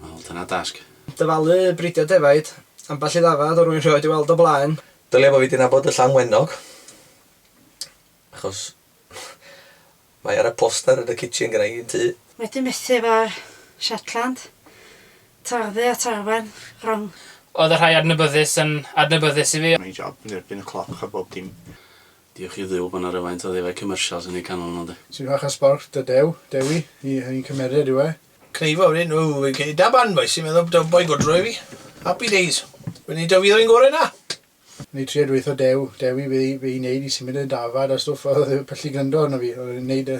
Wel, dyna dasg. Dyfalu bridio defaid. Ambell i ddafad o rwyn rhioed 'i weld o blaen. Dylia bo fi 'di nabod y Llanwenog, achos mae ar y poster yn y kitchen gynna i yn tŷ. Wedi methu efo Shetland. Tarddu at arwain rong. Oedd y rhai adnabyddus yn adnabyddus i fi. Mae'n job yn erbyn y cloc a bob dim. Diolch i Dduw bod 'na rywaint o ddefaid commercials yn eu canol nhw, ynde? Ti'n fach o sborch dy Dew, Dewi, i hynny'n cymered yw e? Cneifo wedyn, ww, fi'n credu da barn bois, ti'n meddwl da boi godro i fi? Happy days! Fi'n neud o fi ddwy'n gore na! Neu tria dweutho Dew, Dewi, be i neud i symud y dafad a stwff, oedd y pyllu gryndo arno fi, oedd e'n neud y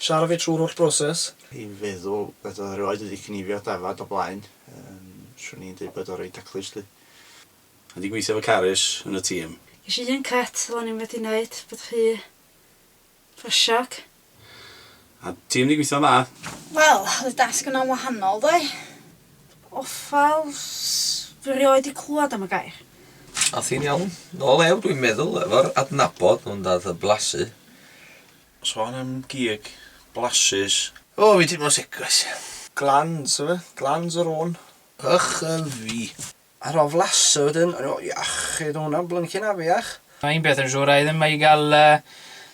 Siara fi trwy'r holl broses. Dwi'n feddwl bod o erioed wedi cnifio dafad o blaen, yym, swn i'n deud bod o'n reit daclus 'lly. Dwi 'di gweithio efo Carys yn y tîm. Ges i un cut ro'n i'm wedi neud, bod rhy fysiog. A tîm 'di gweithio'n dda. Wel, oedd y dasg yna'n wahanol ddoe. Ofal, dwi erioed 'di clwad am y gair. Ath hi'n iawn. Nôl ew dwi'n meddwl efo'r adnabod ond ath y blasu Sôn am gig, blasus. O, fi'n teimlo'n sic, guys. Glans yw e, glans yr ôn. Ych a fi. Ar ol flasu wedyn, o'n i fel, iachyd, o' hwnna'n blyncin afiach. Mae un peth yn siŵr, a' i ddim mo'i ga'l yy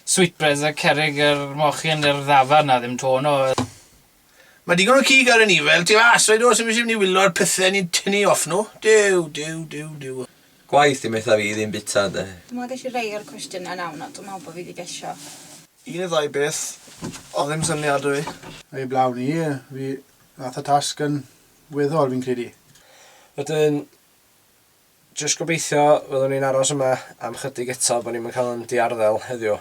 sweetbreads a cerrig yr mochyn i'r ddafarn, 'na ddim to 'no. Mae digon o cig ar y niwel tu fas, rhaid oes imbyswn mynd i wyllo ar pythe ni'n tynnu off nhw. Duw, duw, duw, duw. Gwaith dim eitha fi ddim bita de. Dw ma geshi rei o'r cwestiyna nawn ond dw me'l bo fi di gesho. Un ne ddau beth odd ddim syniad da fi. Ei blaw ni, fi nath y tasg yn weddol fi'n credu. Wedyn jyst gobeithio fyddwn ni'n aros yma am chydig eto bo ni'm yn cael yn diarddel heddiw.